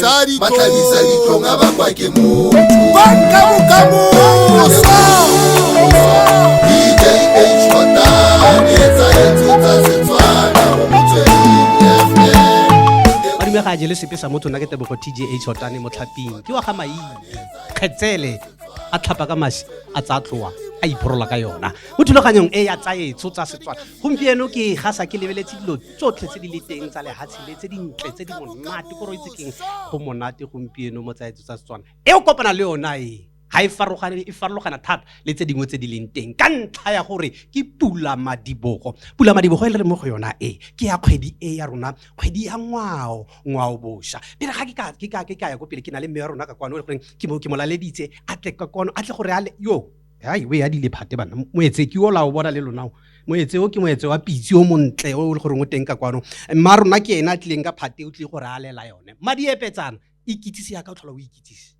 sadiko ba tlhabisa ditlong a bakwa ke motho banka bokamosa dj shota etsa etso tsa setswana go motsweng ga jele sepe sa motho nna ke tebogo tga shotane motlhaping ke wa ga maii kgetsele a tlhapa ka masi a tsa tloa a iphorola ka yona mo thulaganyong e ya tsaetso tsa setswana gompieno ke gasa ke lebeletse dilo tsotlhe tse di le teng tsa lehatshe le tse dintle tse di monate ko roitse keng go monate gompieno mo tsaetso tsa setswana e o kopana le yona e ga e farologane e farologana thata le tse dingwe tse di leng teng ka ntlha ya gore ke pula madibogo pula madibogo e le re mo go yona e ke ya kgwedi e ya rona kgwedi ya ngwao ngwao bosha pele ga ke ka ke ka ke ka ya ko pele ke na le mme ya rona ka kwano e le goreng ke mo ke mo laleditse a tle ka kwano a tle gore a le yo Hai, o e adile phate bana. Moetse ke ola o bona le lona o. Moetse o ke moetse wa pitsi o montle o le gore o teng ka kwano. Mma rona ke ena a tlileng ka phate o tlile go re a lela yone. Mma di epetsana, ikitsise ya ka o tlhola o ikitsise.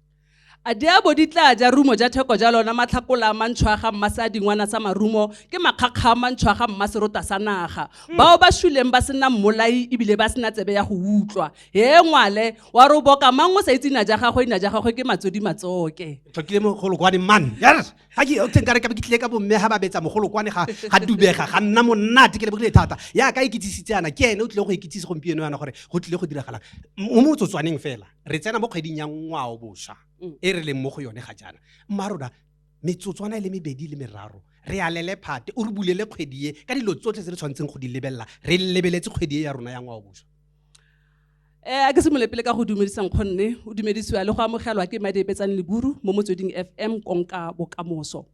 A di a bo di tla ja rumo ja theko ja lona matlhakola a mantšho a ga mma sa dingwana sa marumo ke makgakga a mantšho a ga mma serota sa naga. Bao ba shuleng ba se na mmolai e bile ba se na tsebe ya go utlwa. Hee ngwale, wa re o boka mang o sa itse ina ja gagwe, ina ja gagwe ke matsodi matsoke. tlhokile mogolokwane man yes ga ke oteng kare ka be ke tlile ka bomme ga ba betsa mogolokwane ga ga dubega ga nna monate ke lebogile thata ya ka ikitsisitse yana ke ene o tlile go ikitsise gompieno yana gore go tlile go diragalang mo motsotswaneng fela re tsena mo kgweding ya ngwao bosha Mm. e re leng mo go yone ga jaana mma rona metsotswana e le mebedi le meraro re alele phate o re bulele kgwedi e ka dilo tsotlhe tse re tshwanetseng go di lebelela re lebeletse kgwedi e ya rona ya ngwao bosha e a ke simolole pele ka go dumedisa nkgonne o dumedisiwa le go amogelwa ke madi epetsang leburu mo motsweding fm konka bokamoso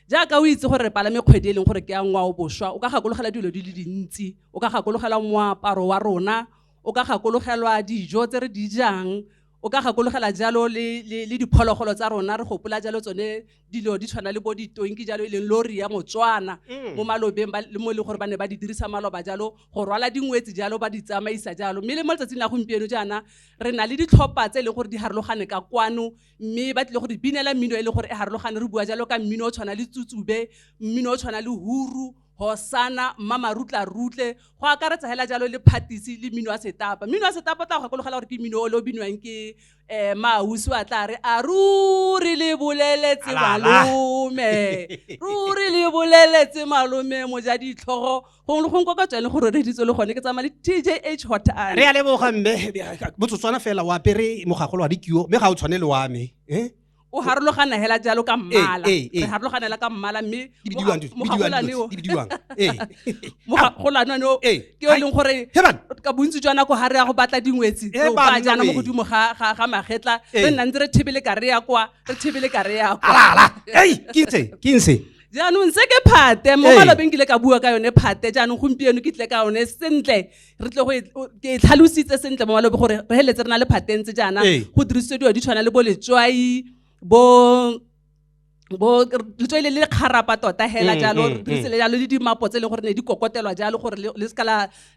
jaaka o itse gore re palame kgwedi e leng gore ke ya ngwao boswa o ka gakologela dilo di le dintsi o ka gakologela moaparo wa rona o ka gakologelwa dijo tse re di jang O ka gakologela jalo le, le, le diphologolo tsa rona re gopola jalo tsone dilo di tshwana le bo ditonki jalo e leng lori ya Motswana Mm. mo malobeng ba- le mo e leng gore ba ne ba di dirisa maloba jalo go rwala dingwetsi jalo ba di tsamaisa jalo mme le mo letsatsing la gompieno jaana re na le ditlhopha tse e leng gore di harologane ka kwano mme ba tlile go di binela mmino e leng gore e harologane re bua jalo ka mmino o tshwana le tsutsube mmino o tshwana le huru Hosana, Mmamarutlarutle, go akaretsa hela jalo le phatisi le mmino wa setapa. Mmino wa setapa o tla go gakologela gore ke mmino o le o binwang ke eh maausi wa tla re a ruri le boleletse Ala, ala. malome ruri le boleletse malome moja ditlhogo gongwe le gongwe kwa ka tswale go roreditswe le gone ke tsamaya le tjh hot re a leboga mme motsotswana fela o apere mogagolo wa dikio mme ga o tshwane le wa me eh? o harologana hela jalo ka mmala eh, eh, eh. re harologana hela ka mmala mme mogagolane o ke yo e leng gore ka bontsi jwa nako ga re ya go batla dingwetsi o ka jaana mo godimo ga magetla re nna ntse re thebele ka re ya kwa re thebele ka re ya kwa jaanong se ke phate mo malobeng ke ile ka bua ka yone phate jaanong gompieno ke tle ka yone sentle re tle go ke tlhalositse sentle mo malobe gore re heletse re na le phatentse jaana go dirisediwa di tshwana le bo letswai bo bo letswai le le kgarapa tota hela mm, jalo mm, re dirisele mm. jalo le dimapo tse e leng gore ne di kokotelwa jalo gore le seka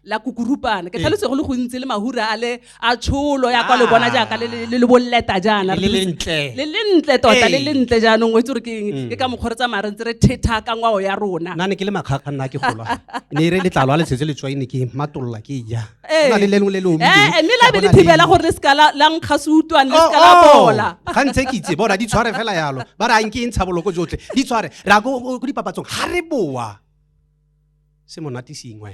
la kukurupana ke tlhalose go le gontsi le mahura a le a tsholo ya kwa lo bona jaaka le- le le- le bolleta jaana Le le ntle. le le ntle tota le Ee. le ntle jaanong o itse gore ke eng ke ka mokgwa re tsamaya re ntse re thetha ka ngwao ya rona nna ne ke le makgakga nna ke gola ne e re letlalo a le tshetse letswai ne ke matolola ke e ja Ee. Go na le le lengwe le le omileng, Eh, mme la ka be le bona thibela gore le seka la la nkga se utlwane le Oh, seka la oh. bola ga ntse ke itse bona di tshware fela yalo ba re a nke e ntsha boloko jotlhe di tshware re ya ko ko dipapatsong ga re boa se monate sengwe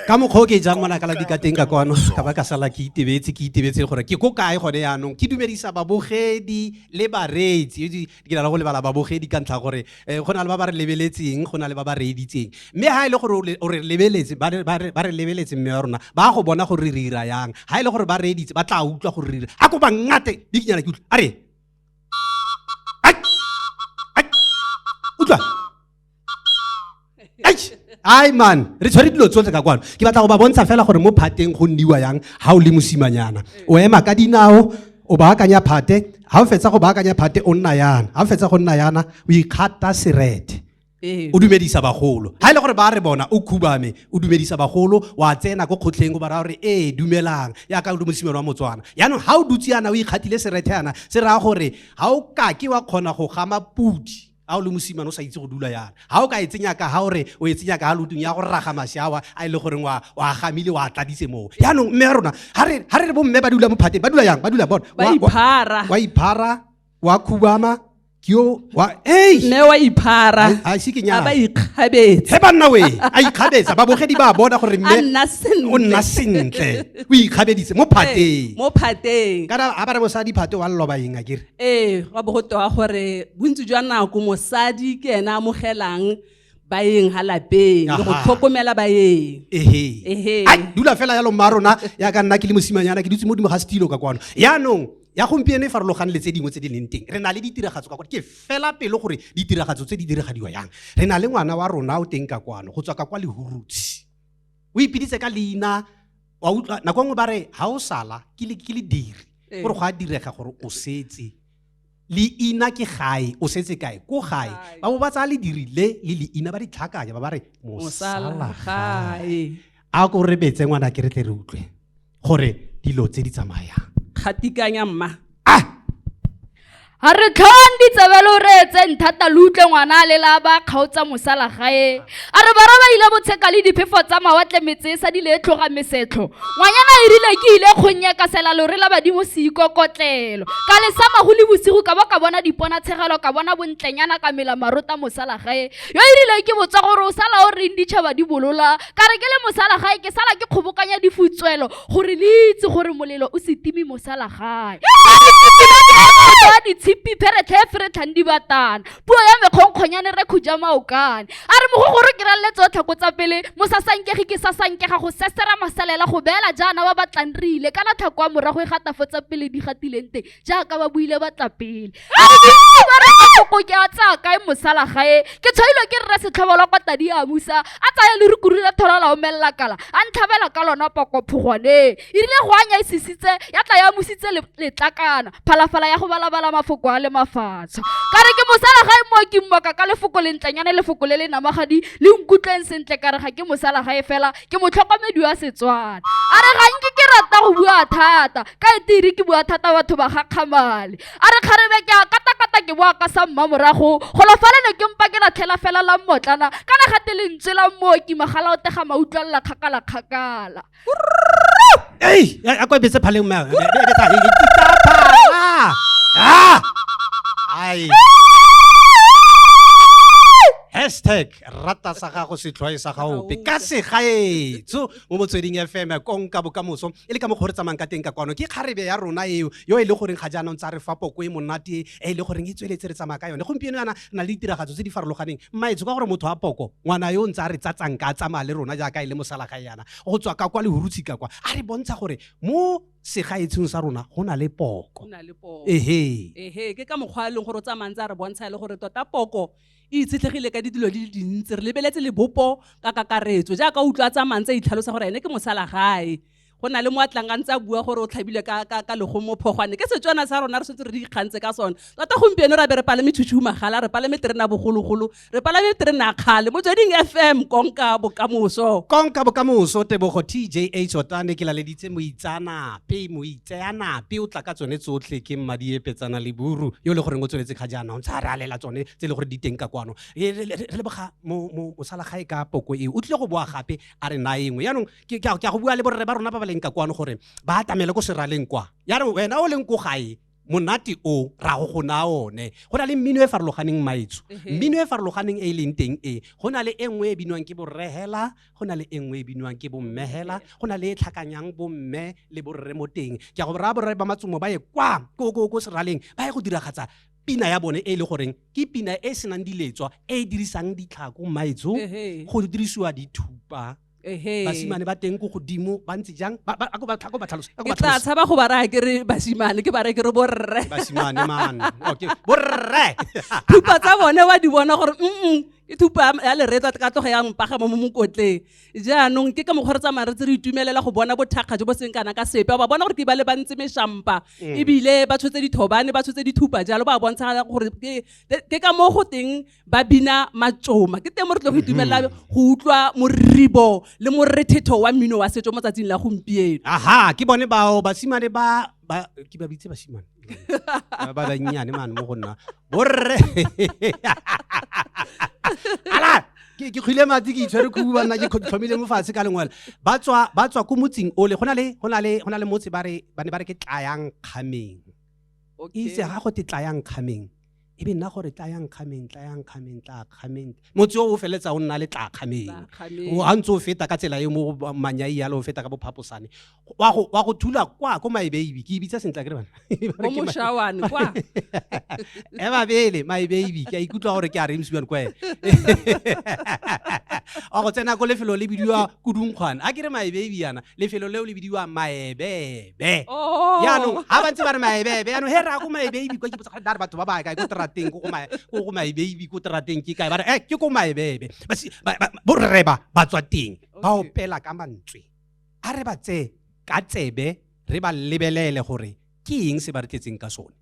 ka mokgwa o ke jang monakala di ka teng ka kwano ka ba ka sala ke itebetse ke itebetse gore ke ko kae gone yaanong ke dumedisa babogedi le bareetsi ke na le go lebala babogedi ka ntlha gore eh, go na le ba ba re lebeletseng go na le ba ba reeditseng mme ga e le gore o re lebeletse ba re lebeletse mme wa rona ba go bona gore re dira yang ga e le gore ba reeditse ba tla utlwa gore re dira a ko ba ngate di kenyana ke utlwa a re utlwa ai man re tshwere dilo tsotlhe ka kwano ke batla go ba bontsha fela gore mo phateng go nniwa yang ga o le mosimanyana o ema ka dinao o baakanya phate ga o fetsa go baakanya phate o nna yana ga o fetsa go nna yana o ikgata serete ee. o dumedisa bagolo ga e le gore ba re bona o khubame o dumedisa bagolo wa tsena ko kgotlheng o ba raya gore ee dumelang yaka o le mosimelo wa motswana yaanong ga o dutse yana o ikgatile serete yana se raya gore ga o kake wa kgona go gama pudi a o le mosimane o sa itse go dula yana ga o ka e tsenya ka ga ore o e tsenya ka ga lotong ya go raga mashawa a e le goreng wa a gamile wa tladise moo yaanong mme ya rona ga re re bo mme ba dula mo phateng ba dula yang ba dula bona wa iphara wa khubama ke yo wa ei mme wa iphara a se ke nyana ba ikgabetse he banna we a ikgabetsa ba bogedi ba bona gore mme o nna sentle o ikgabedise mo phateng mo phateng kana a ba re mosadi phate wa loba eng a kere ee gwa bo go tewa gore bontsi jwa nako mosadi ke ene a amogelang baeng ga lapeng le go Aha. tlhokomela baeng ehe Ehe. Ai, dula fela yalo mma rona ya ka nna ke le mosimanyana ke dutse mo dimo ga setilo ka kwano yaanong ya gompieno e farologane le tse dingwe tse di leng teng re na le ditiragatso ka kwano ke fela pelo gore ditiragatso tse di diragadiwa yang re na le ngwana wa rona o teng ka kwano go tswa ka kwa lehurutsi o ipiditse ka leina wa utlwa nako nngwe ba re ga o sala ke le ke le diri Ee. gore go a direga gore o setse leina ke gae o setse kae ko gae Gae. ba bo ba tsaya lediri le le leina ba di tlhakanya ba ba re mosala mosala gae gae a ko rebetse ngwana ke re tle re utlwe gore dilo tse di tsamayang kgatikanya mma a a re tlhong ditsebe lo reetseng thata lo utlwe ngwana a lela ba kgaotsa mosala gae a re bara ba ile botsheka le diphefo tsa mawatle metse e sa di le e tlhoga mesetlho ngwanyana e rile ke ile kgonye ka sela lore la badimo se ikokotlelo ka lesama go le bosigo ka ba ka bona dipona tshegelo ka bona bontlenyana ka mela marota mosala gae yo e rile ke botsa gore o sala o reng ditšhaba di bolola ka re ke le mosala gae ke sala ke kgobokanya difutswelo gore le itse gore molelo o se timi mosala gae a ditshipi pheretlhe fere tlhang di batana puo ya mekgonkgonyane re khuja maokane a re mogogoro ke ralele tsotlhe ko tsa pele mosasankege ke sasankega go sesera masalela go beela jaana ba batlang re ile kana tlhako wa morago e gatafo tsa pele di gatileng teng jaaka ba buile ba tla pele ba re koko ke a tsaya kae mosala gae ke tshwailwe ke rre setlhobo la kwa tadi a musa a tsaya le rukuru la thola la omelela kala a ntlhabela ka lona poko phogwaneng e rile go anya e sisitse ya tla ya musitse le- letlakana phalafala ya go balabala mafoko a le mafatsho ka re ke mosala gae mo ke mmoka ka lefoko le ntlanyane lefoko le le namagadi le nkutlweng sentle ka re ga ke mosala gae fela ke motlhokomedi wa setswana a re ga nke ke rata go bua thata ka e tiri ke bua thata batho ba gakgamale a re kgarebe ke a katakata ke boa ka sa mma morago golo falele ke mpa ke latlhela fela la mmotlana kana ga te lentswe la mmooki magala o tega mautlwalela kgakala kgakala ei a kwa bese phaleng mma hashtag rata sa gago setlhwae sa gaope ka segaetso mo motsweding fm konka bokamoso e le ka mokgwa re tsamayng ka teng ka kwano ke kgarebe ya rona eo yo e le goreng ga jaanong tsa re fa poko e monate e le goreng e tsweletse re tsamaya ka yone gompieno yana na le ditiragatso tse di farologaneng mmaetso ka gore motho a poko ngwana yo o ntse a re tsatsang ka tsamaya le rona jaaka e le mosalagae yana go tswa ka kwa lehurutshi ka kwa a re bontsha gore mo segaetsheng sa rona go na le poko ehe ehe ke ka mokgwa e leng gore o tsamayng tsa re bontsha e le gore tota poko e itshetlegile ka dilo di le dintsi re lebeletse lebopo ka kakaretso jaaka o utlwa tsa mantse a itlhalosa gore ene ke mosala gae go na le mo a tlang a ntse a bua gore o tlhabile ka, ka, ka legomo phogwane ke setswana sa rona re setse re di ikgantse ka sone tota gompieno ra be re palame tshutshumagala re palame terena bogologolo re palame terena kgale motsweding fm konka bokamoso konka bokamoso tebogo tjh o tane ke laleditse moitsanapei tseya nape o tla ka tsone tsotlhe ke mmadiepetsana le buru yo e le goreng o tsweletse ga jaana o ntse a re alela tsone tse e le gore di teng ka kwano re leboga mosalagae ka poko eo o tlile go boa gape a re na engwe yaanong ke a go bua le borre ba rona ba ba leng ka kwano gore ba atamele ko seraleng kwa ya re wena o leng ko gae monate o ra go gona one go na le mmino e farologaneng maetso mmino e farologaneng e e leng teng e go na le e nngwe e binwang ke borehela go na le e nngwe e binwang ke bommehela go na le e tlhakanyang bomme le borre mo teng ke a go raya borre ba matsomo ba ye kwa ko ko ko seraleng ba ye go diragatsa pina ya bone e le goreng ke pina e e senang diletswa e e dirisang ditlhako maetso go dirisiwa dithupa basimane ba teng ko godimo ba ntse jang ba tla tshaba go ba raya ke re basimane ke ba raya ke re borre basimane man okay borre thupa tsa bone wa di bona gore mm e thupa ya leretsa ka tloga ya mpaga mo mokotleng jaanong ke ka mokgwa re tsamaya re tse re itumelela go bona bothakga jo bo seng kana ka sepe ba bona gore ke ba le bantse meshampa mm. ebile ba tshotse dithobane ba tshotse dithupa jalo ba bontsha gore ke ka mo go teng ba bina matsoma ke teng mo re tle go mm-hmm. itumelela go utlwa moribo le morethetho wa mmino wa setso mo tsatsing la gompieno aha ke bone bao basimane ba ke ba bitse basimane ba bannyane mane mo go nna borre ala ke ke kgwile matsi ke itshwere khubu ba nna ke tlhomile mo fatshe ka lengwele ba tswa ba tswa ko motsing ole go na le go na le go na le motse ba re ba ne ba re ke tlayang kgameng itse ga go te tlayang kgameng e be nna gore tlayang kgameng tlayang kgameng tla kgameng motse o feletsa o nna le tlakgameng a ntse o feta ka tsela e mo manyai yalo o feta ka bophaposane wa go thula kwa ko maebeibi ke ibitsa sentle ke e babele maebeibi ke a ikutlwa gore ke a remsiwan kwa ene wa go tsena ko lefelo le bidiwa kudunkgwane a ke re maebeibi yana lefelo leo le bidiwa maebe maebebe Oh. yaanong ga ba ntse ba re maebebe yaanong he re ya ko maebebe kwa ke botsa gare batho ba ba kae ko terateng ko go mae- ko go maebebe ko terateng ke kae ba re e ke ko maebebe Ba si- ba- ba- borre ba ba tswa teng ba Okay. opela ka mantswe a re ba tseye ka tsebe re ba lebelele gore ke eng se ba re tletseng ka sone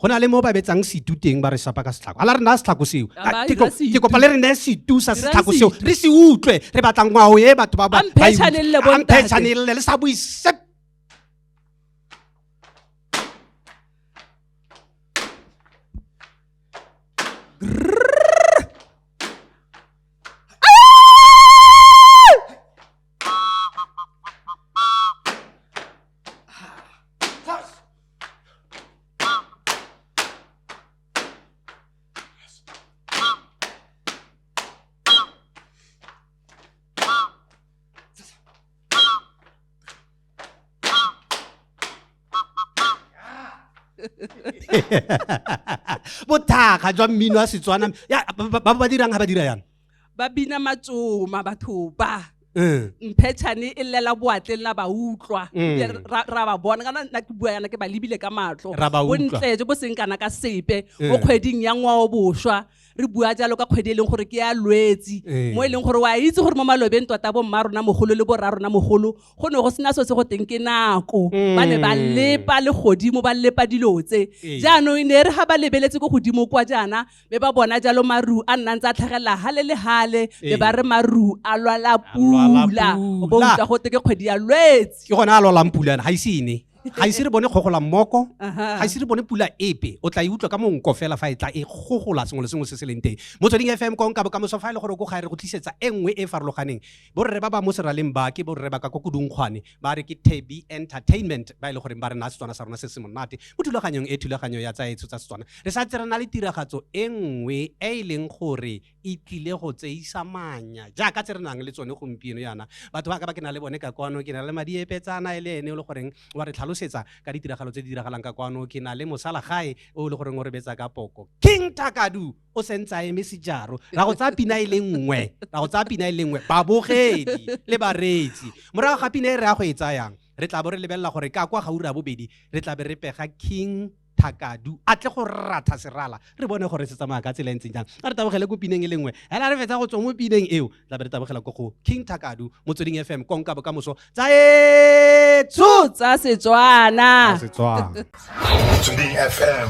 go na le mo ba betsang setu teng ba re sapa ka setlhako ala re naya setlhako seo ke kopa le re neye setu sa setlhako seo re se utlwe re batla ngwao e batho ba bamphetšhanelele le sa bue sep bothakga jwa mmino wa setswana ba ba dirang ga ba dira yana ba bina matsoma batho ba Eh. mphetšhane e llela boatleng la ba utlwa Mm. Ebile ra ra ba bona kana nna ke bua yana ke ba lebile ka matlho Ra ba utlwa. bontle jo bo seng kana ka sepe Eh. mo kgweding ya ngwao boswa re bua jalo ka kgwedi e leng gore ke ya lwetsi Eh. mo e leng gore wa itse gore mo malobeng tota bomma rona mogolo le borra rona mogolo go ne go sena so se go teng ke nako ba ne ba Mm. lepa le godimo ba lepa dilo tse Eh. jaanong e ne e re ga ba lebeletse ko godimo kwa jaana be ba bona jalo maru a nna ntse a tlhagelela gale le gale be ba re maru a lwala pula o bo utlwa gote ke kgwedi ya lwetse ke gone a lwalang pula ga ise ene ga ise re bone kgogola mmoko ga ise re bone pula epe o tla e utlwa ka monko fela fa e tla e gogola sengwe le sengwe se se leng teng motsweding fm konka bokamoso fa e le gore ko ga e re go tlisetsa e nngwe e e farologaneng borre ba ba mo seraleng ba ke borre ba ka ko kodungkgwane ba re ke tebi entertainment ba e le goreng ba re na setswana sa rona se se monate mo thulaganyong e thulaganyo ya tsaetsho tsa setswana re sa tse re na le tiragatso e nngwe e e leng gore e tlile go tseisa manya jaaka tse re nang le tsone gompieno yana batho ba ka ba ke na le bone ka kwano ke na le madi epetsana e le ene o le goreng wa re tlhalosetsa ka ditiragalo tse di diragalang ka kwano ke na le mosalagae o le goreng o re betsa ka poko king takadu o sentse a eme sejaro ra go tsaya pina e le nngwe ra go tsaya pina e le nngwe babogedi le bareetsi morago ga pina e re ya go e tsayang re tla bo re lebelela gore ka kwa gaura bobedi re tla be re pega king thakadu a tle go ratha serala re bone gore se tsamaya ka tsela e ntseng jang a re tabogele ko pineng e le nngwe hela re fetsa go tswa mo pineng eo la be re tabogela ko go king thakadu motsweding fm konka bokamoso tsa etso tsa setswana motsweding fm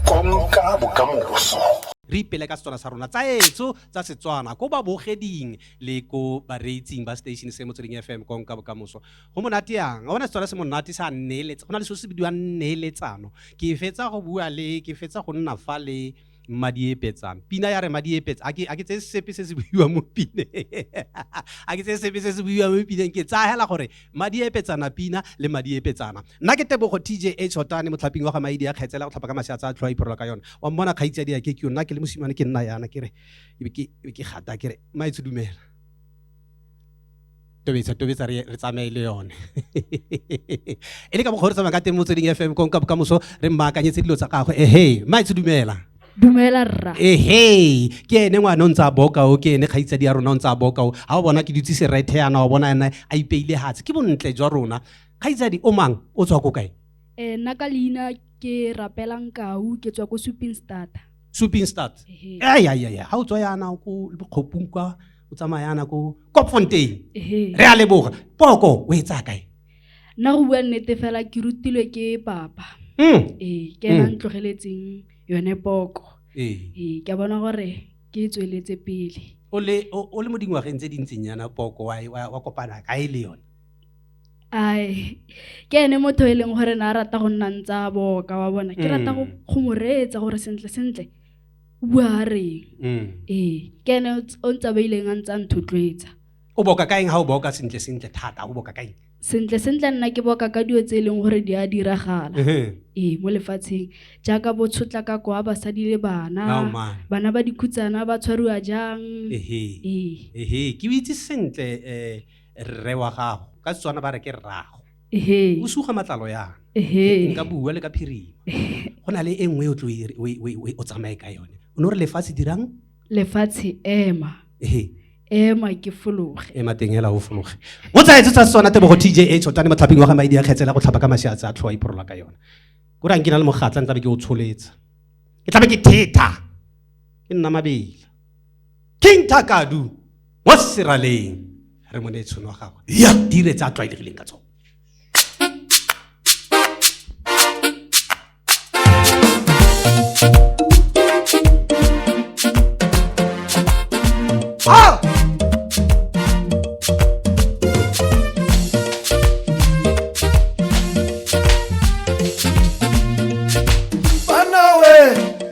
konka bokamoso re ipele ka setswana sa rona tsa etso tsa setswana ko babogeding le ko bareetsing ba station se motsweding fm konka bokamoso go monate yang a bona setswana se monate sa nneeletse go na le seo se bidiwang nneeletsano ke fetsa go bua le ke fetsa go nna fa le mmadiepetsang pina ya re madiepetsa a ke tseye sepe se se buiwa mo pineng a ke tseye sepe se se buiwa mo pineng ke tsaya hela gore madiepetsana pina le madiepetsana nna ke tebogo t j h hotane motlhaping wa ga maidi a kgetsela go tlhapa ka maseatsa a tlhoa iphorola ka yone wa mmona kgaitsadi ya ke ke nna ke le mosimane ke nna yana ke re ke gata ke re maetse dumela tobetsa tobetsa re re tsamaye le yone e le ka mokgwa re tsamaya ka teng mo tsweding fm konka bokamoso re mmaakanyetse dilo tsa gagwe ehe maitse dumela dumela rra ehe ke ene ngwana o ntse a bokao ke ene kgaitsadi ya rona o ntse a bokao ga o bona ke dutse serethe yana wa bona ene a ipeile hatse ke bontle jwa rona kgaitsadi o mang o tswa ko kae um nna ka leina ke rapelang kau ke tswa ko suping starter supinstad Ehe. ayayaya ga o tswa yana ko bokgopung kwa o tsamaya yana ko kopfontein Ehe. re a leboga poko o e tsaya kae nna go bua nnete fela ke rutilwe ke papa Mm, ee ke ena Mm. ntlogeletseng yone poko ee. ee ke a bona gore ke e tsweletse pele o le o- o le mo dingwageng tse dintseng yana poko wa e- wa wa kopana kae le yone ai ke ene motho e leng gore ne a rata go nna ntse a boka wa bona ke rata go mm. go mo reetsa gore sentle sentle o bua a reng mm. ee ke ene o ntse ba ileng a ntse a nthotloetsa o boka ka eng ga o boka sentle sentle thata o boka ka eng sentle sentle nna ke boka ka dilo tse e leng gore di a diragala ee mo lefatsheng jaaka bo tshotla ka kwa basadi le bana bana ba dikhutsana ba tshwariwa jang ee ke itse sentle um rre wa gago ka setswana ba re ke rrago o suga matlalo yana nka bua le ka phirima go na le e nngwe e o tsamaye ka yone o ne o re lefatshe dirang lefatshe ema ema ke fologe ema teng hela o fologe o tsa etse tsa setswana tebogo tj e tshotane motlhaping wa ga maidi a kgetsela go tlhapa ka masiatse a tlhoa iphorola ka yone ko rang ke na le mogatla ntlabe ke o tsholetsa ke tlabe ke thetha ke nna mabela king takadu wa seraleng re mo ne tshono wa gagwe ya dire tsa tlwaelegileng ka tsone Ah!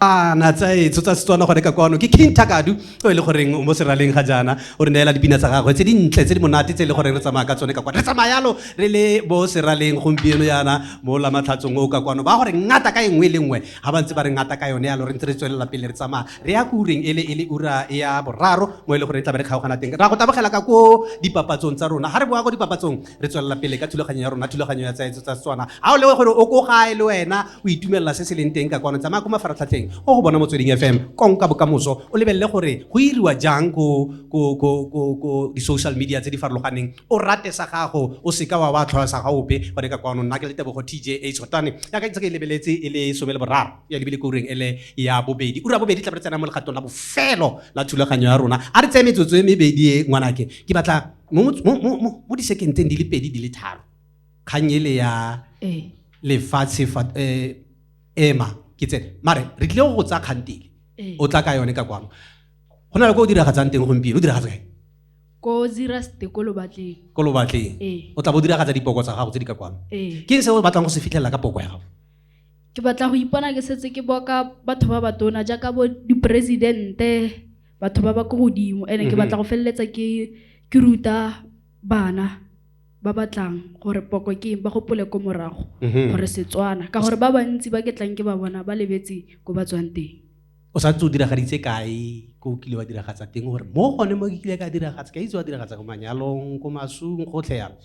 ana tsa etso tsa setswana gone ka kwano ke king takadu o e le goreng o mo seraleng ga jaana o re neela dipina tsa gagwe tse dintle tse di monate tse e le gore re tsamaya ka tsone ka kwano re tsamaya yalo re le bo seraleng gompieno yana mo lamatlhatsong o ka kwano ba gore ngata ka e nngwe le nngwe ga ba ntse ba re ngata ka yone yalo re ntse re tswelela pele re tsamaya re ya ko ureng e le e le ura ya boraro mo e le gore e tla be re kgaogana teng ra go tabogela ka ko dipapatsong tsa rona ga re boa ko dipapatsong re tswelela pele ka thulaganyo ya rona thulaganyo ya tsaetso tsa setswana ga o lewe gore o ko gae le wena o itumelela se se leng teng ka kwano tsamaya ko mafaratlhatlheng o go bona motsweding fm konka bokamoso o lebelele gore go iriwa jang ko di-social media tse di farologaneng o rate sa gago o seka wa wa tlhola sa ga ope bone ka kwano nna ke le tebogo tj a tshotane yaka ntse ke e lebeletse e le some le boraro ya lebile koreng e le ya bobedi ura bobedi tla re tsena mo legatong la bofelo la thulaganyo ya rona a re tseye metsotso e mebedi e ngwanake ke batla mo disekenteng di le pedi di le tharo kgang ele ya eh. lefatshe eh, ema ke tsene mare re tlile go go tsaya kgantele eh. o tla ka yone ka kwano go na le ko o diragatsang teng gompieno o diragatsa kae ko ziraste ko lobatleng ko lobatleng o tla bo diragatsa dipoko tsa gago tse di ka kwano ke eng se o batlang go se fitlhelela ka poko ya gago ke batla go ipona ke setse ke boka batho ba batona jaaka bo diporesidente batho ba ba ko godimo and ke batla go feleletsa ke ke ruta bana ba batlang gore poko ke eng ba gopole ko morago gore setswana ka gore ba bantsi ba ke tlang ke ba bona ba lebetse ko ba tswang teng o sa ntse o diragaditse kae ko o kile wa diragatsa teng gore mo gone mo ke kile ka diragatsa ka itse wa diragatsa ko manyalong ko masung gotlhe yalo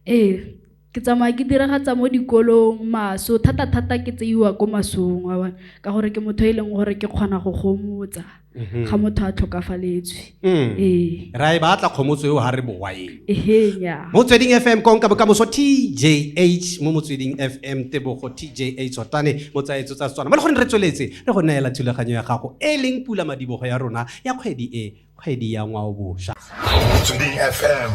Ee, ke tsamaya ke diragatsa mo dikolong maso thata-thata ke tseiwa ko masong wa bona ka gore ke motho e leng gore ke kgona go gomotsa mhm. ga motho a tlhokafaletswe mm. ee ra e batla kgomotso eo ga re bowa ea motsweding f m konka bokamoso t j h mo motsweding f m tebogo t j h otane motsaetso tsa setswana mo le gone re tsweletse re go neela thulaganyo ya gago e leng pula madibogo ya rona ya kgwedi e kgwedi ya ngwaobosha motsweding fm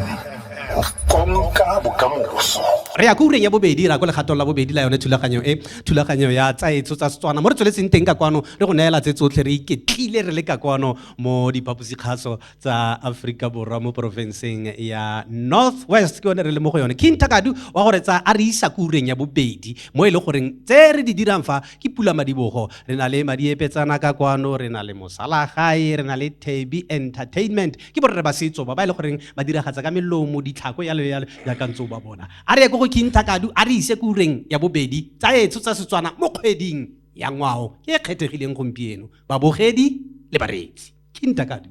konka bokamoso re ya ko ureng ya bobedi ra ko legatong la bobedi la yone thulaganyo e thulaganyo ya tsaetso tsa setswana mo re tsweletseng teng ka kwano re go neela tse tsotlhe re iketlile re le ka kwano mo diphaposikgaso tsa aforika borwa mo porofenseng ya north west ke yone re le mo go yone king takadu wa gore tsa a re isa ko ureng ya bobedi mo e le goreng tse re di dirang fa ke pula madibogo re na le madiepetsana ka kwano re na le mosalagae re na le taby entertainment ke borre ba setso ba ba e le goreng ba diragatsa ka melomo ditlhako yalo yalo jaaka ntse o ba bona a re ye ko go kintha kadu a re ise ko ureng ya bobedi tsa etso tsa setswana mo kgweding ya ngwao e e kgethegileng gompieno babogedi le bareetsi kintha kadu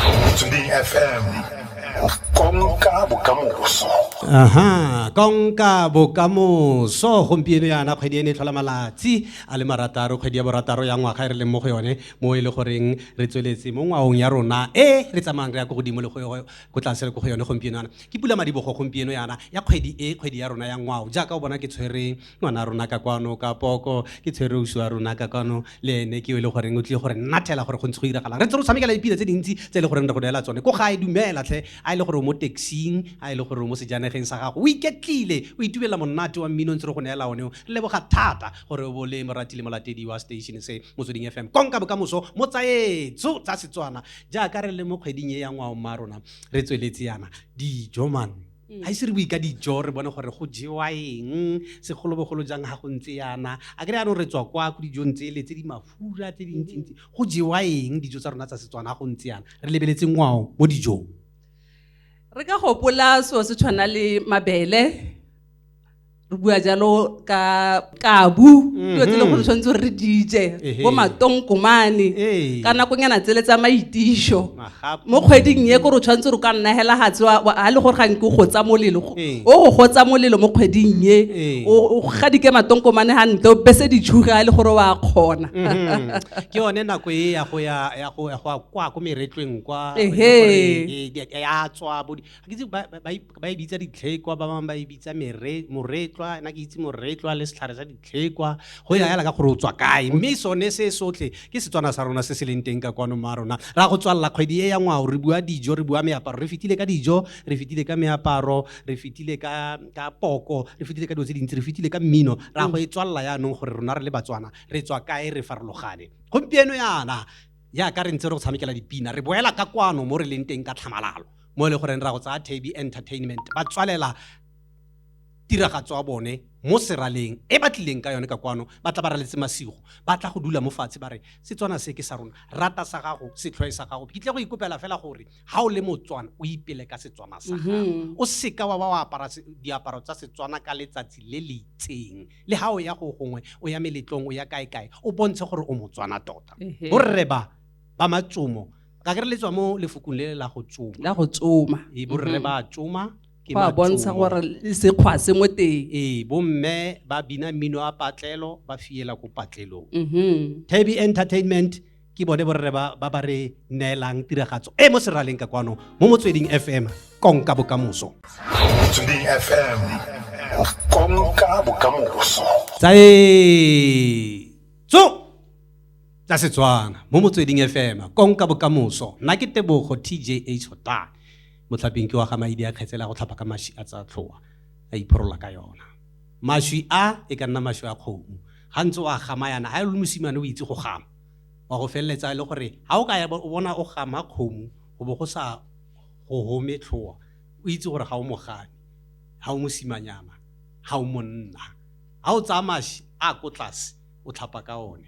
Motsweding FM konka bokamoso aha konka bokamoso gompieno yana kgwedi e ne e tlhola malatsi a le marataro kgwedi ya borataro ya ngwaga e re leng mo go yone mo e le goreng re tsweletse mo ngwaong ya rona e re tsamayang re ya ko godimo le ko tlase le ko go yone gompieno yana ke pula madibogo gompieno yana ya kgwedi e kgwedi ya rona ya ngwao jaaka o bona ke tshwere ngwana rona ka kwano ka poko ke tshwere uso wa rona ka kwano le ene ke e le goreng o tlile gore nnathela gore go ntse go iragalang re tse go tshamekela dipina tse dintsi tse e le goreng re go neela tsone ko gae dumela tlhe a e le gore o mo taxing a e le gore o mo sejanegeng sa gago o iketlile o itumelela monate wa mmino ntse re go neela one o re leboga thata gore o bo le morati le molatedi wa station se motsweding fm konka bokamoso mo tsaetso tsa setswana jaaka re le mo kgweding e ya ngwao mma rona re tsweletse yana dijo man ga ise re bue ka dijo re bone gore go jewa eng segolobogolo jang ga go ntse yana a kry yanong re tswa kwa ko dijong tsele tse di mafura tse dintsintsi go jewa eng dijo tsa rona tsa setswana ga go ntse yana re lebeletse ngwao mo dijong re ka gopola seo se tshwana le mabele re bua jalo ka kabu mhm. dilo tse le gore tshwanetse gore re dije bo matongkomane ka nakonyana tsele tsa maitišo mo kgweding ye kore o tshwanetse gore ka nnagela gatse ga le gore ga nke o gotsa molelo o go gotsa molelo mo kgweding ye o gadike matongkomane ga nte o bese ditšhuge ga le gore wa kgona mhm. ke yone nako e ya go ya kwa ko meretlweng kwa ya tswa ga ke itse ba ba- ba e- ba e bitsa ditlhekwa ba bangwe ba e bitsa mere- moretlwa na ke itse moretlwa le setlhare sa ditlhekwa go ya yala ka gore o tswa kae mme sone se sotlhe ke setswana sa rona se se leng teng ka kwano mo a rona ra go tswalela kgwedi e ya ngwao re bua dijo re bua meaparo re fetile ka dijo re fetile ka meaparo re fetile ka ka poko re fetile ka dilo tse dintsi re fetile ka mmino ra go e tswalela yaanong gore rona re le batswana re tswa kae re farologane gompieno yana jaaka re ntse re go tshamekela dipina re boela ka kwano mo re leng teng ka tlhamalalo mo e le goreng ra go tsaya thabi entertainment ba tswalela tiragatso ya bone mo seraleng e ba tlileng ka yone ka kwano ba tla ba raletse masigo ba tla go dula mo fatshe ba re setswana se ke sa rona rata sa gago setlhoe sa gago ke tle go ikopela fela gore ga o le motswana o ipele ka setswana sa gago mm-hmm. o seka wa ba wa apara diaparo tsa setswana ka letsatsi le le itseng le ga o ya go gongwe o ya meletlong o ya kae kae o bontshe gore o motswana tota borre ba ba matsomo ka kere le tswa mo lefokong le la go tsoma la go tsoma ee borre mhm. ba tsoma ke ba bontsha gore sekgwa se mo teng ee bomme ba bina mmino a patlelo ba fiela ko patlelong mhm. tabi entertainment ke bone borre ba ba re neelang tiragatso e mo seraleng ka kwano mo motsweding fm konka bokamoso motsweding fm konka bokamoso tsae tso tsa setswana mo motsweding fm konka bokamoso nna ke tebogo tj h hota motlhaping ke wa ga maidi a kgetsela go tlhapa ka maši a tsa tlhoa a iphorola ka yona mašwi a e ka nna mašwi a kgomo ga ntse o a gama yana ga e le mosimane o itse go gama wa go feleletsa e le gore ga o ka ya o bona o gama kgomo go bo go sa go home tlhoa o itse gore ga o mogame ga o mosimanyana ga o monna ga o tsaya maši a ko tlase o tlhapa ka one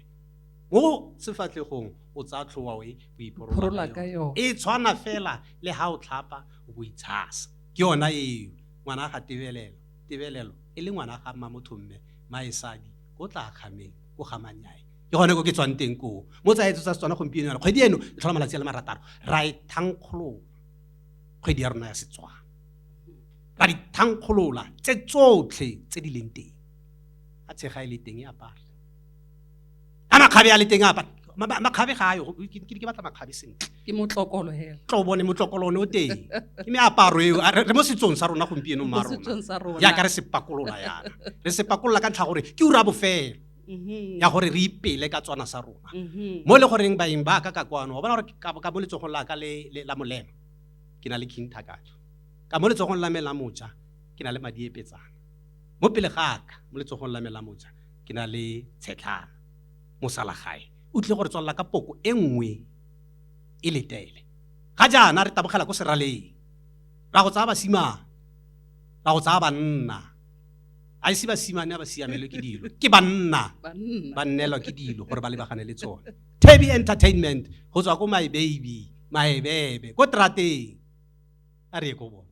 mo sefatlhegong o tsaya tlhoa e o iporola ka yone e tshwana fela le ha o tlhapa o bo itshasa ke yona eo ngwana ga tebelelo tebelelo e le ngwana ga mma motho mme maesadi o tla kgameng o gamanyae ke gone ko ke tswang teng koo mo tsa etso tsa setswana gompieno yana kgwedi eno e tlhola malatsi a le marataro ra e thankgolola kgwedi ya rona ya setswana ra di thankgolola tse tsotlhe tse di leng teng a tshega e le teng e apare a makgabe a le teng a apare makgabe ga ayo ke batla makgabe sentle ke motlokolo hela tlo bone motlokolo one o teng ke meaparo eo re mo setsong sa rona gompieno mma rona jaaka re sepakolola yana re sepakolola ka ntlha gore ke ura bofelo mm-hmm. ya gore re ipele ka tswana sa rona mm-hmm. mo e le goreng baeng ba ka ka kwano wa bona gore ka mo letsogong la ka la molema ke na le king thakatso ka mo letsogong la me la moja ke na le madiepetsana Mo pele ga ka, mo letsogong la me la moja, ke na le tshetlana. Mosalagae o tlile go re tswalela ka poko e nngwe e letele. Ga jaana re tabogela ko seraleng. Ra go tsaya basimane. Ra go tsaya banna. A ise basimane a ba siamelwe ke dilo. Ke banna ba nnelwa ke dilo gore ba lebagane le tsone. Tebby Entertainment go tswa ko My Baby, Maebebe, ko Trateng. A re ye ko bone.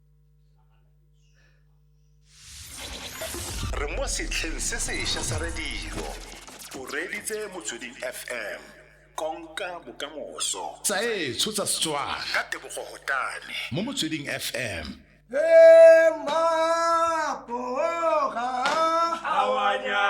re mo setlheng se sešwa sa radio o reditse motsweding fm konka bokamoso tsa etsho tsa setswana ka tebogo gotane mo motsweding fm Awanya.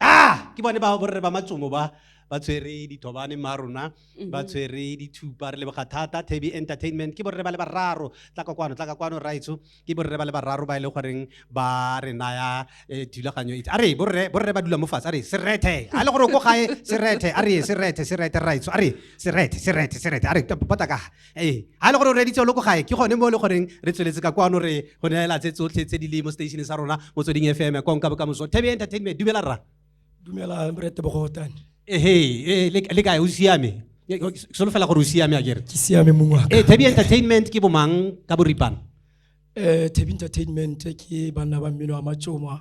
ah ke bone ba borre ba matsomo ba ba tshwere dithobane ma rona ba mhm. tshwere dithupa re leboga thata taby entertainment ke borre ba le bararo tla ka kwano tla ka kwano raitso ke borre ba le bararo ba e le goreng ba re naya eh, thulaganyo itse a re borre borre ba dula mo fatshe a re serethe a le gore o ko gae serethe a re serethe serethe raitso a re serethe serethe serethe a re bota ka ee ga e le gore o reditse lo ko gae ke gone mo e le goreng re tsweletse ka kwano re go neela tse tsotlhe tse di le mo stationeng sa rona motsweding f m konka bokamoso thabi entertainment dumela rra dumela morete bogotane ehe ee, le le kae o siame Ke- ke solofela gore o siame a kere ke siame mong wa ee thabi entertainment ke bomang ka boripana um tabi entertainment ke banna ba mmino wa matsoma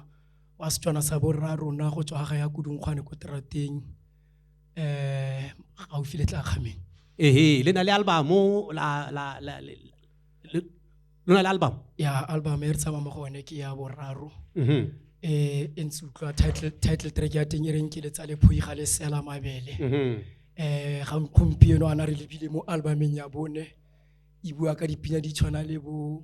wa setswana sa borra rona go tswa ga ya kudungkgwane ko terateng eh gaufi le tla kgameng ehe le na le albamo la la la le- le- lo na le album ya album e re tsamaya mo go one ke ya boraro Mhm. eh e ntse utlwa title title track ya teng e reng ke letsa le phoi ga le sela mabele Mhm. eh ga gompieno ana re lebile mo albumeng ya bone e bua ka dipina di tshwana le bo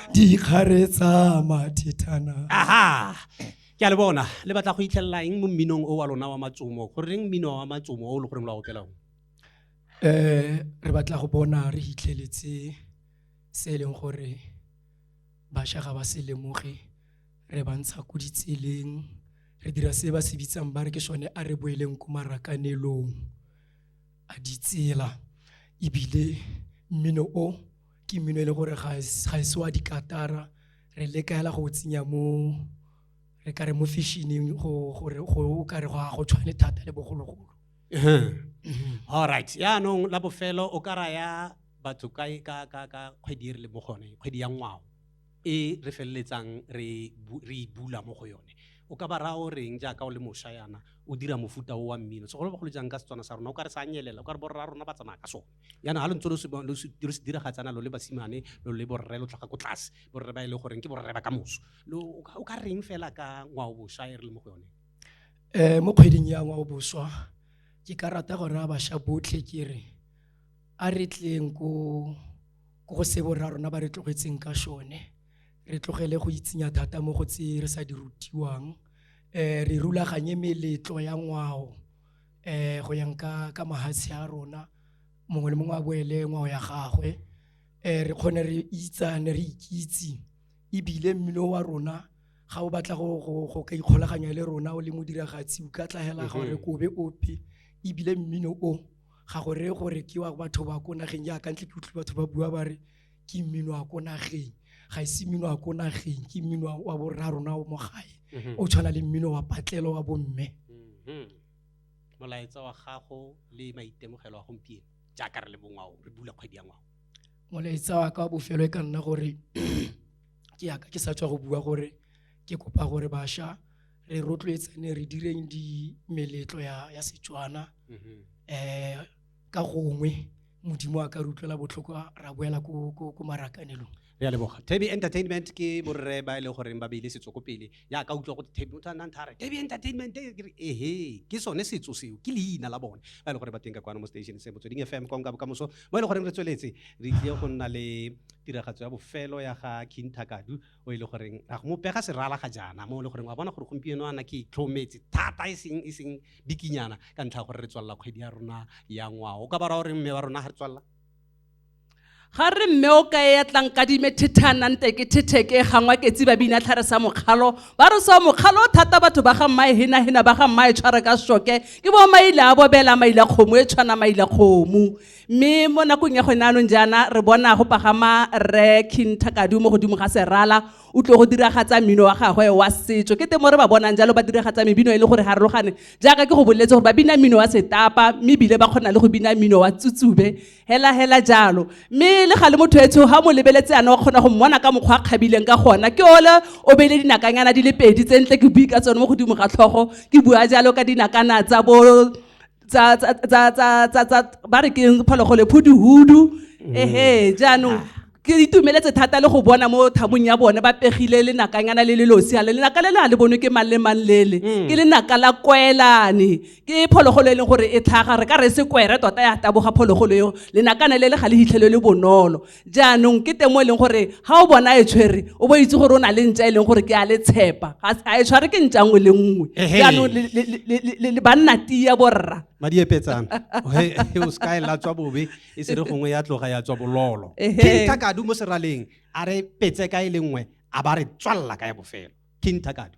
dikgare tsa mathethana aha ke a le bona le batla go itlhelela eng mo mminong o wa lona wa matsomo go reng mmino wa matsomo o le goreng lo a opela one eh re batla go bona re hitlheletse se e leng gore bašwa ga ba se lemoge re ba ntsha ko ditseleng re dira se ba se bitsang ba re ke sone a re boeleng ko marakanelong a ditsela ebile mmino o ke mmino e le gore ga e se wa dikatara re le kaela go tsenya mo re ka re mo fashion-eng gore go ka re go a go tshwane thata le bogologolo mhm. all right yaanong la bofelo o ka raya batho ka ka ka ka kgwedi e re le mo gone kgwedi ya ngwao e re feleletsang re re e bula mo go yone o ka ba raya o reng jaaka o le mosha yana o dira mofuta o wa mmino segolobogolo jang ka setswana sa rona o ka re sa nyelela o ka re borra rona ba tsamaya ka sone yana ga lo ntse lo se diragatsana lo le basimane lo le borre lo tlhaga ko tlase borre ba e le goreng ke borre ba ka moso o ka reng fela ka ngwao boswa e re le mo go yone um mo kgweding ya ngwao boswa ke ka rata gore a bašwa botlhe ke re a re tleng ko go se borra rona ba re tlogetseng ka sone re tlogele go itsinya thata mo go tse re sa di rutiwang um re rulaganye meletlo ya ngwao eh go yang ka ka mahatshe a rona mongwe le mongwe a boele ngwao ya gagwe eh re kgone re itsane re ikitse ebile mmino wa rona ga o batla go go go ka ikgolaganya le rona o le modiragatsi o ka tlagela gore kobe ope ebile mmino o ga gore gore ke wa batho ba ko nageng jaaka ntle ke utlwe batho ba bua ba re ke mmino wa ko nageng ga ise mmino wa ko nageng ke mmino wa borarona o mo gae mhm. o tshwana le mmino wa patlelo wa bomme mhm. molaetsa wa gago le maitemogelo a gompieno jaaka re le bongwao re bula kgwedi ya ngwao molaetsa wa ka wa bofelo e ka nna gore ke yaka ke sa tswa go bua gore ke kopa gore bašwa re rotloetsane re direng di meletlo ya, ya setswana um mhm. eh, ka gongwe modimo a ka re utlwela botlhoko ra boela ko marakanelong re a leboga taby entertainment ke borre ba e leng goreng ba beile setso ko pele ya ka utlwa gote taby motho a nnang thare taby entertainment ke re ehe ke sone setso seo ke leina la bone ba e leng gore ba teng ka kwana mo station se motsweding fm kong ka bokamoso mo e leng goreng re tsweletse re tlile go nna le tiragatso ya bofelo ya ga king thakadu o e le goreng a go mo pega serala ga jaana mo e le goreng wa bona gore gompieno ana ke itlhometse thata e seng e seng bikinyana ka ntlha gore re tswalela kgwedi ya rona ya ngwao o ka ba ra gore mme wa rona ga re tswalela ga re mme o ka ya tlang kadime thethana nte ke thetheke gangwa ke tsiba bina tlhare sa mokgalo ba re sa mokgalo thata batho ba ga mmae hena hena ba ga mmae tshware ka shoke ke bo maile a bobela maile kgomo e tshwana maile kgomo mme mo nakong ya gone anong jaana re bona go pagama rre king thakadu mo godimo ga serala o tlo go diragatsa mmino wa gagwe wa setso ke teng mo re ba bonang jalo ba diragatsa mebino e le gore harologane jaaka ke go boleletse gore ba bina mmino wa setapa mme ebile ba kgona le go bina mmino wa tsutsube hela hela jalo mme le ga le motho etsho ga mo lebeletse yana o kgona go mmona ka mokgwa a kgabileng ka gona ke ole o beile dinakanyana di le pedi tse ntle ke bui ka tsone mo godimo ga tlhogo ke bua jalo ka dinakana tsa bo ba re keng phologolo phuduhudu mm. ehe jaanong ke itumeletse thata le go bona mo thabong ya bone ba pegile lenakanyana le le losia le lenaka le le a le bonwe ke mang le mang lele mm. ke lenaka la kwelane ke phologolo e leng gore e tlhaga re ka re se kwere tota ya taboga phologolo eo lenakane le le ga le hitlhelo le bonolo jaanong ke teng mo e leng gore ga o bona e tshwere o bo itse gore o na le ntša e leng gore ke a le tshepa ga e tshware ke ntša nngwe le nngwe jaanong le banna tia borra madi epetsana o se ka e latswa bobe e se re gongwe ya tloga ya tswa bololo king takadu mo seraleng a re petse ka e le nngwe a ba re tswalela ka ya bofelo king takadu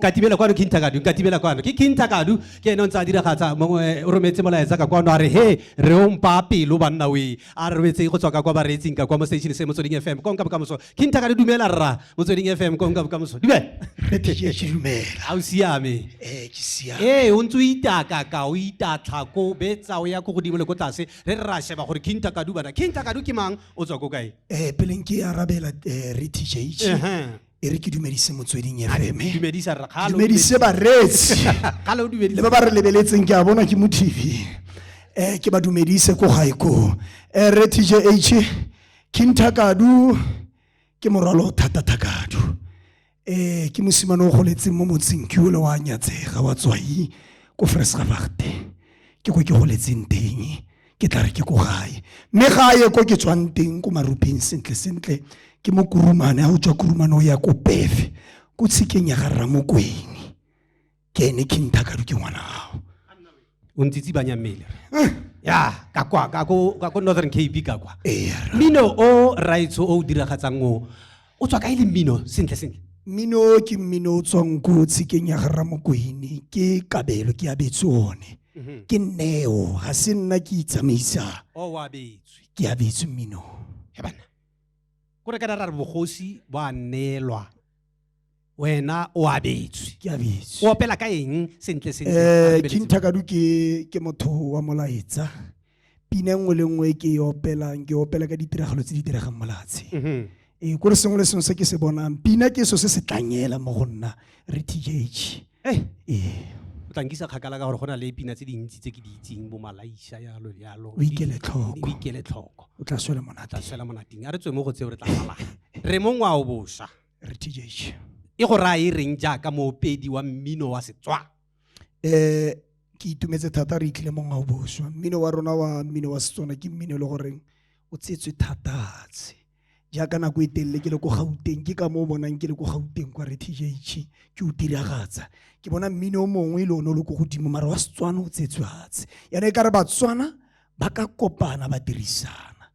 nkatibela kwano ke nthakadu nkatibela kwano ke ke nthakadu ke ene o ntse a diragatsa mongwe o rometse molaetsa ka kwano a re he re o mpaa pelo banna oe A re robetseng go tswa ka kwa bareetsing ka kwa mo station se Motsweding FM. Konka bokamoso. Kintha ka le dumela rra Motsweding FM konka bokamoso. Dumela. Re ke ke dumela. Ha o siame. Eh ke siame. Ee o ntse o itaka ka o itatlha ko betsa o ya ko godimo le ko tlase re re ra sheba gore Kintha Kadu bana Kintha Kadu ke mang o tswa ko kae? Eh peleng ke arabela eh, re TJ. Ehe. e re ke dumedise motsweding efeme dumedisa rra kgale o dumedise bareetsi kgale o le dumedisa ba ba re lebeletseng ke a bona ke mo tv um ke ba dumedise ko gae koo um re tjh kinthakadu ke morwalo o thata thakadu um ke mosimane o goletseng mo motseng ke ole wa nyatsega wa tswai ko fresgavagte ke ko ke goletseng teng ke tla re ke ko gae mme ga a ye ko ke tswang teng ko marupeng sentle sentle ke mo kurumane a o tswa kurumane o ya ko pefe ko tshikeng ya ga rramokwene ke ene khinthakadu ke ngwana gago o ntsitsi banya mmele eh. ya ka kwa ka ko northern cape ka kwa mmino o raitsho o o diragatsang o o tswa kae le mmino sentle sentle mmino ke mmino o tswang ko tshikeng ya ga ramokwene ke kabelo ke abetse one mhm. ke neo ga se nna ke itsamaisa oh, ke abetse mmino he bana kore ka dara re bogosi bo a neelwa wena o abetswe ke abetswe o opela ka eng sentle sentle eh kinthakadu ke ke motho wa molaetsa pina nngwe le nngwe ke e opelang ke opela ka ditiragalo tse di diregang molatshe mhm. ee ko re sengwe le sengwe se ke se bonang pina ke so se se tlanyela mo go nna re tgh eh. ee o tlankisa kgakala ka gore go na le pina tse dintsi tse ke di itseng bo malaisa yalo yalo o ikele tlhoko o ikele tlhoko o tla swela monateng tla swela monateng a re tswe mo go tseo re tla sala re mongwa o bosha RTJ. E go raya e reng jaaka moopedi wa mmino wa Setswana? Eh ke itumetse thata re itlile mo ngwao boswa. Mmino wa rona wa mmino wa Setswana ke mmino e le goreng o tsetswe thatatshe. Jaaka nako e telele ke le ko Gauteng ke ka moo bonang ke le ko Gauteng kwa RTJ ke o diragatsa. Ke bona mmino o mongwe le one o le ko godimo mara wa Setswana o tsetswe fatshe. Yana e ka re Batswana ba ka kopana ba dirisana.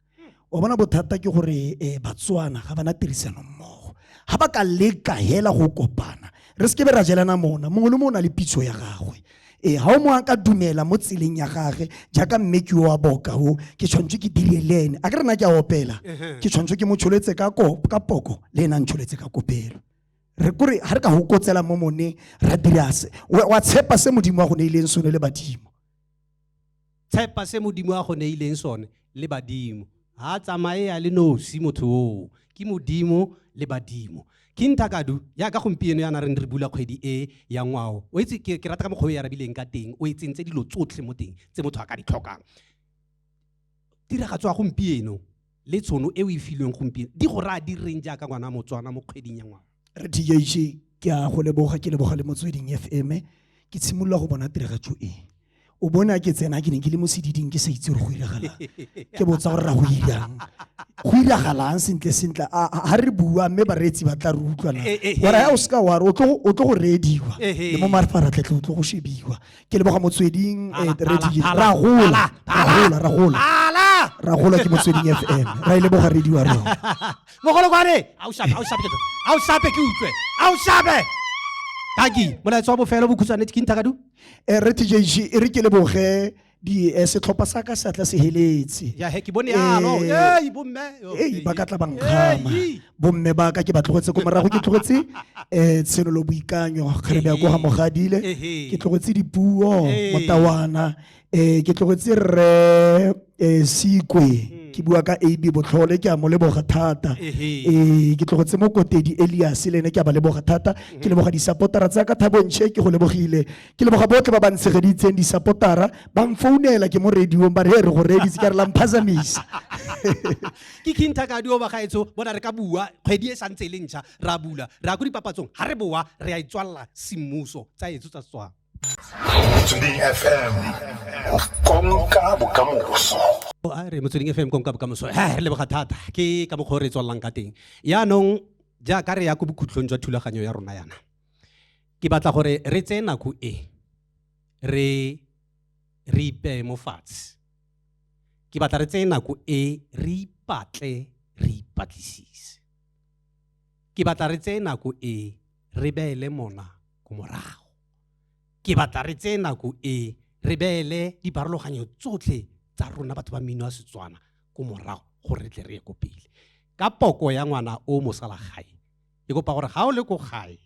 o bona bothata ke gore um batswana ga bana tirisano mmogo ga ba ka leka hela go kopana re seke be ra jelana mona mongwe le mongwe o na le pitso ya gagwe ee ga o mongwe a ka dumela mo tseleng ya gage jaaka mme ke wa boka o ke tshwanetse ke dire le ene a ke rena ke a opela ke tshwanetse ke mo tsholetse ka poko le ena a ntsholetse ka kopelo re kore ga re ka go kotsela mo mone ra dirase wa tshepa se modimo wa go ne ileng sone le badimo tshepa se modimo a go neileng sone le badimo ga a tsamaye ya le nosi motho oo ke modimo le badimo ke nthakadu yaka gompieno yana re ne re bula kgwedi e ya ngwao o itse ke rata ka mokgwa o e arabileng ka teng o e tsentse dilo tsotlhe mo teng tse motho a ka di tlhokang tiragatso ya gompieno le tshono e o e filweng gompieno di go raya di reng jaaka ngwana motswana mo kgweding ya ngwana re tjj ke a go leboga ke leboga le motsweding fm ke tshimolola go bona tiragatso e o bona ke tsena ke ne ke le mo sediding ke sa itse gore go iragalang ke botsa gore ra go irang go iragalang sentle sentle ga re bua mme bareetsi ba tla re utlwana eh, eh, eh. ora ya o seka ware o tlo go reediwa le mo mafaratlhatlhe o tlo go shebiwa ke leboga motsweding eh, ra gola ra gola ra gola ke motsweding fm ra e leboga radio wa rona mogolokwane a o shape a o shape ke utlwe a o shape kaki molaetso wa bofelo bokhutshwane ke nthakadu eh, re tj e re ke leboge di eh, setlhopha sa ka seatla se heletse ya he ke bone yalo eh, ei bomme ei ba ka tla ba nkgama bomme ba ka ke ba tlogetse ko morago ke tlogetse um tshenolo boikanyo kgare bea ko ga mogadile ke tlogetse dipuo motawana um ke tlogetse rre um sekwe hmm. ke bua ka ab botlhole ke a mo leboga thata um ke tlogetse mo kotedi elias le ene ke a ba leboga thata ke hmm. leboga disapotara tsa ka thabontshe ke go lebogile ke leboga botlhe ba ba ntshegeditseng disapotara ba mfounela ke mo radiong ba re e re go reeditse ka re la mphazamisa ke kintha ka dioba gaetsho bona re ka bua kgwedi e santse e le ntšha ra bula re ya ko dipapatsong ga re boa re a itswalela semmuso tsa etso tsa setswana motsweding fm konka bokamoso a re motsweding fm konka bokamoso he re leboga thata ke ka mokgwa o re tswalelang ka teng yaanong jaaka re ya ko bokhutlhong jwa thulaganyo ya rona yana ke batla gore re tseye nako e re re ipeye mo fatshe Ke batla re tseye nako e re ipatle re ipatlisise. Ke batla re tseye nako e re beele mona ko morago. Ke batla re tseye nako e re beele dipharologanyo tsotlhe tsa rona batho ba mmino wa Setswana ko morago gore re tle re ye ko pele. Ka poko ya ngwana o mosalagae, ke kopa gore ga o le ko gae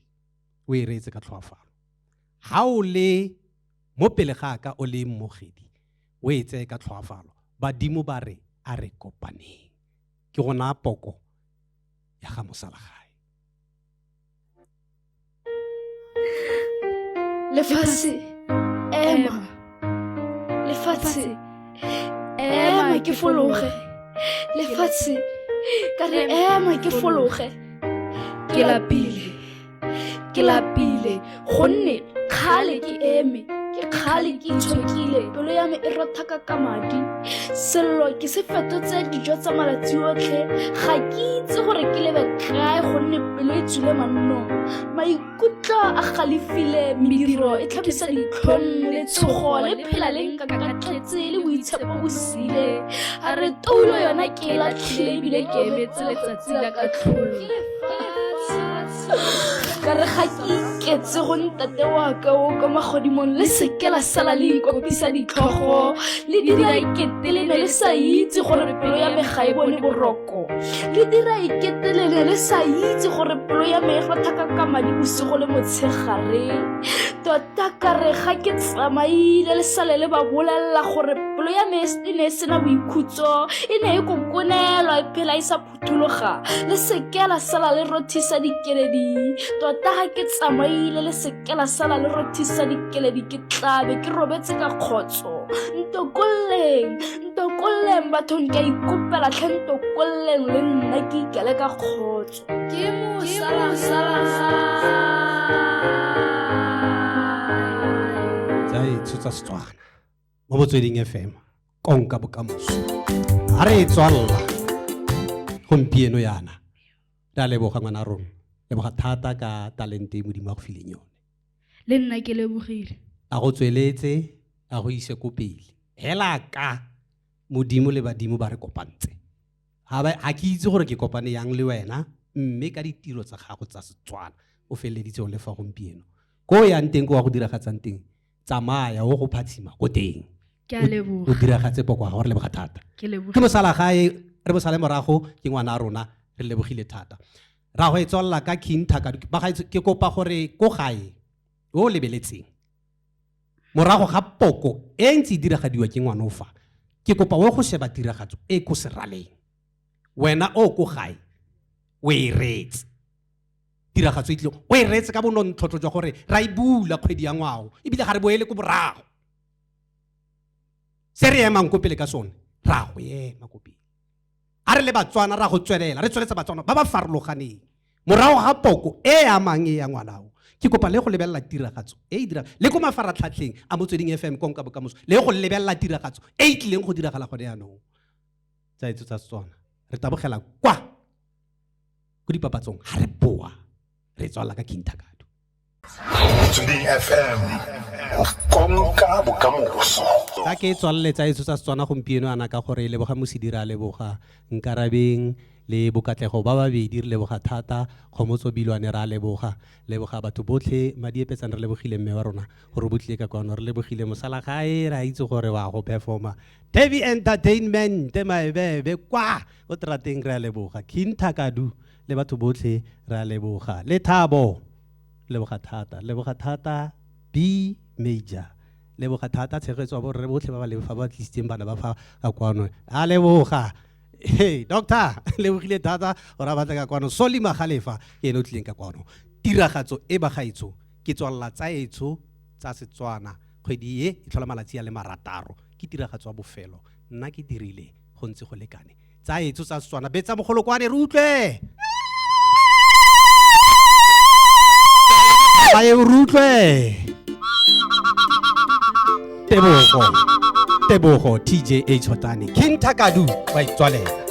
o e reetse ka tlhoafalo. Ga o le mo pele ga ka o le mmogedi, o e tseye ka tlhoafalo badimo ba re a re kopaneng ke go naya poko ya ga mosalagae lefatshe ema lefatshe ema ke fologe lefatshe ka re ema ke fologe ke lapile ke lapile gonne kgale ke eme ke kgale ke itshokile pelo ya me e rothaka ka madi sello ke se fetotse dijo tsa malatsi otlhe ga ke itse gore ke lebe kae gonne pelo e tswile mannong maikutlo a galefile mediro e tlhabisa ditlhong letshogo le phela le nkakatletse le boitshepo bo sile a re toulo yona ke e latlhile ebile ke emetse letsatsi la ka tlholo ka re ga ke iketse go ntate wa ka o kwa magodimong le seke la sala le ikopisa ditlhogo le dira ikete le ne le sa itse gore pelo ya me ga e bone boroko le dira ikete le ne le sa itse gore pelo ya me e rothaka ka madi bosigo le motshegare tota ka re ga ke tsamaile le sale le ba bolelela gore pelo ya me e ne e sena boikhutso e ne e kokonelwa e phela e sa phuthuloga le seke la sala le rothisa dikeledi tota ga ke tsamaile le seke la sala le rothisa dikeledi ke tlabe ke robetse ka kgotso ntokolleng ntokolleng bathong ke a ikopela tlhe ntokolleng le nna ke ikele ka kgotso ke tsa etsho tsa setswana mo botsweding fm konka bokamoso a re e tswalela gompieno yana re a leboga ngwana rona leboga thata ka talente e modimo a go fileng yone le nna ke lebogile a go tsweletse a go ise ko pele hela ka modimo le badimo ba re kopantse ga ke itse gore ke kopane yang le wena mme ka ditiro tsa gago tsa setswana o feleleditse o le fa gompieno ko o yang teng ko wa go diragatsang teng tsamaya o go phatshima ko teng ke a leboga o diragatse poko ga gore leboga thata ke leboga ke bosala gae re bosale morago ke ngwana a rona re lebogile thata ra go e tswalela ka king thaka ba ga ke kopa gore ko gae o lebeletseng morago ga poko e ntse e diragadiwa ke ngwana o fa ke kopa o go sheba tiragatso e ko seraleng wena o ko gae o e retse tiragatso e tlile o e reetse ka bonontlhotlho jwa gore ra e bula kgwedi ya ngwao ebile ga re boele ko borago se re emang ko pele ka sone ra go ema ko pele a re le batswana ra go tswelela re tsweletsa batswana ba ba farologaneng morago ga poko e e amang e ya ngwanao ke kopa le go lebelela tiragatso e e dirang le ko mafaratlhatlheng a motsweding fm konka bokamoso le go lebelela tiragatso e e tlileng go diragala gone yaanong tsa etso tsa setswana re tabogela kwa ko dipapatsong ga re boa re tswala ka king thakado motsweding fm konka bokamoso ka ke tswalele tsa etso tsa setswana gompieno ana ka gore leboga mosidira a leboga nkarabeng le bokatlego ba babedi re leboga thata kgomotso bilwane ra leboga leboga batho botlhe madiepetsane re lebogile mme wa rona gore o botlile ka kwano re lebogile mosala gae ra itse gore wa go performa tavi entertainment maebebe kwa o trateng re a leboga king thakadu le batho botlhe re a leboga le thabo leboga thata leboga thata b major leboga thata tshegetso ya borre botlhe ba ba leng fa ba tlisitseng bana ba fa ka kwano a leboga hey doctor lebogile thata gore a batla ka kwano soli magalefa ke ene o tlileng ka kwano tiragatso e bagaetsho ke tswalela tsa etsho tsa setswana kgwedi e e tlhola malatsi a le marataro ke tiragatso ya bofelo nna ke dirile go ntse go lekane tsa etso tsa setswana betsa mogolokwane re utlwe baye re utlwe tebogo tebogo tj h hotane king takadu wa itswalela